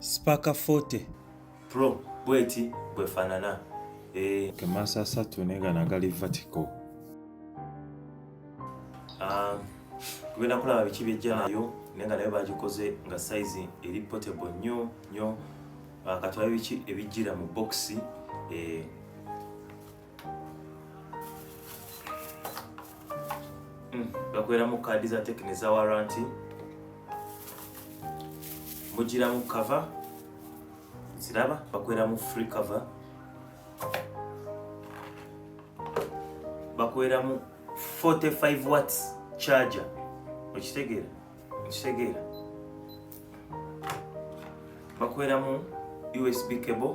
Spark 40 Pro bweti bwefanana eh ke masa satu nega na gali vertical ah um, kubera kula biki bijja nayo nenga nayo bagikoze nga size eri portable nyo nyo ah, katwa biki ebijira mu box eh bakoleramu hmm, kaadi za tekini za waranti mugiramu kava ziraba bakoleramu free cover bakoleramu 45 watts charger okitegeera okitegeera bakoleramu usb cable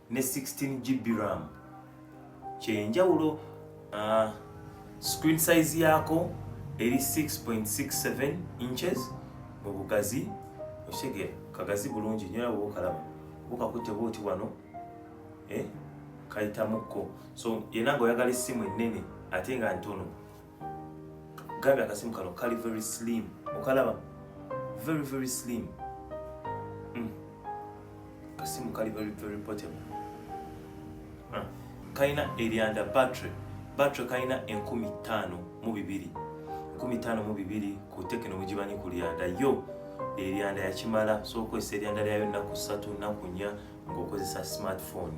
ne 16 GB ram kyenjawulo uh, ah, screen size yaako eri 6.67 inches mu bugazi okitegera kagazi bulungi nyo nabo bokalaba bukakute bwoti wano eh, kayitamukko so yena nga oyagala essimu ennene ate nga ntono gabi akasimu kano kali very slim okalaba very very slim mm. kasimu kali very very portable ah. kalina eryanda battery battery kalina enkumi ttaano mu bibiri enkumi ttaano mu bibiri ku tekino mugimanyi ku lyanda yo eryanda yakimala so okozesa eryanda lyayo nnaku ssatu nnaku nnya ng'okozesa smartphone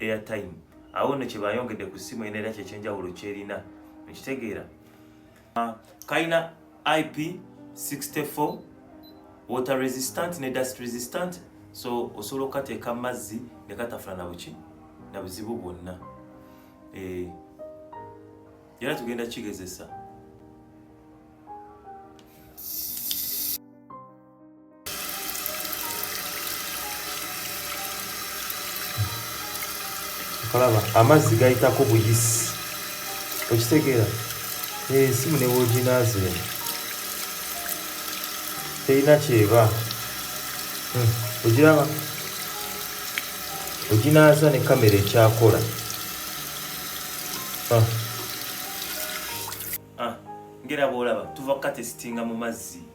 airtime awo no kyebayongedde ku simu ena era kyekyenjawulo kyerina ekitegeera ah, kalina ip 64 water resistant ne dust resistant so osobola okukateeka mu mazzi ne katafuna nabuki na buzibu bwonna eh, era tugenda kigezesa kalaba amazzi gayitako buyisi okitegeera esimu eh, ne woginaazi eno terina kyeba hmm, ogiraba oginaaza ne kamera ekyakola ah. Ah, ngera bwolaba tuva kukatesitinga mu mazzi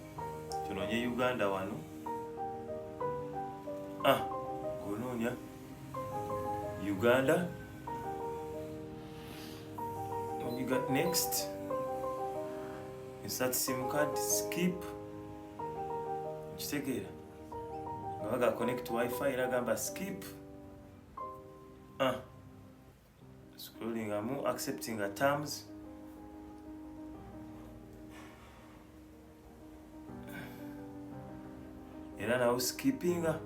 tunonye uganda wano ah kunoonya uganda when you got next insert sim card skip kitegeera nga baga connect wifi era gamba skip ah scrolling amu accepting a terms era nawo skippinga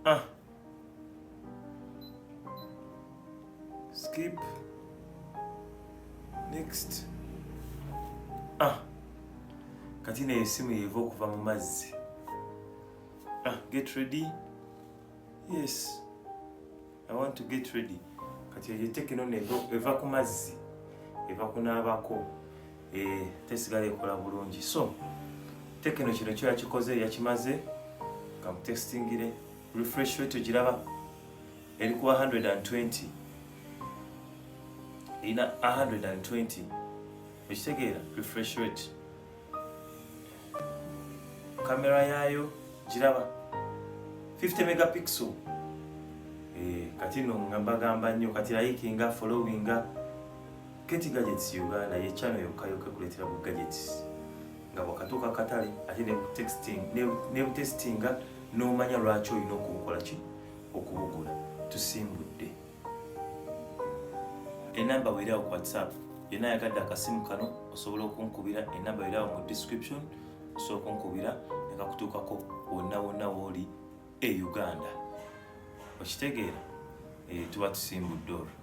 ah skip next ah kati neyo esimu yeva okuva mu mazzi ah get ready yes i want to get ready kati eyo tekino eva ku mazzi eva kunaabako eh, tesigala ekola bulungi so tekino kino kyo yakikoze yakimaze kamutestingire refresh rate ogiraba eri ku 120 erina 120 ekitegeera refresh rate kamera yaayo giraba 50 megapixel eh, kati no nga mbagamba nnyo kati layikinga followinga keti gadgets uganda ye channel yokka yokka ekuleetera bu gadgets nga bwakatuuka katale ate nebutestinga n'omanya lwaki olina okubukola ki okubugula tusimbudde enamba weerawo ku whatsapp yena ayagadde akasimu kano osobola okunkubira enamba weerawo mu description osobola okunkubira nekakutuukako wonna wonna wooli e uganda okitegeera eh, tuba tusimbudde olwo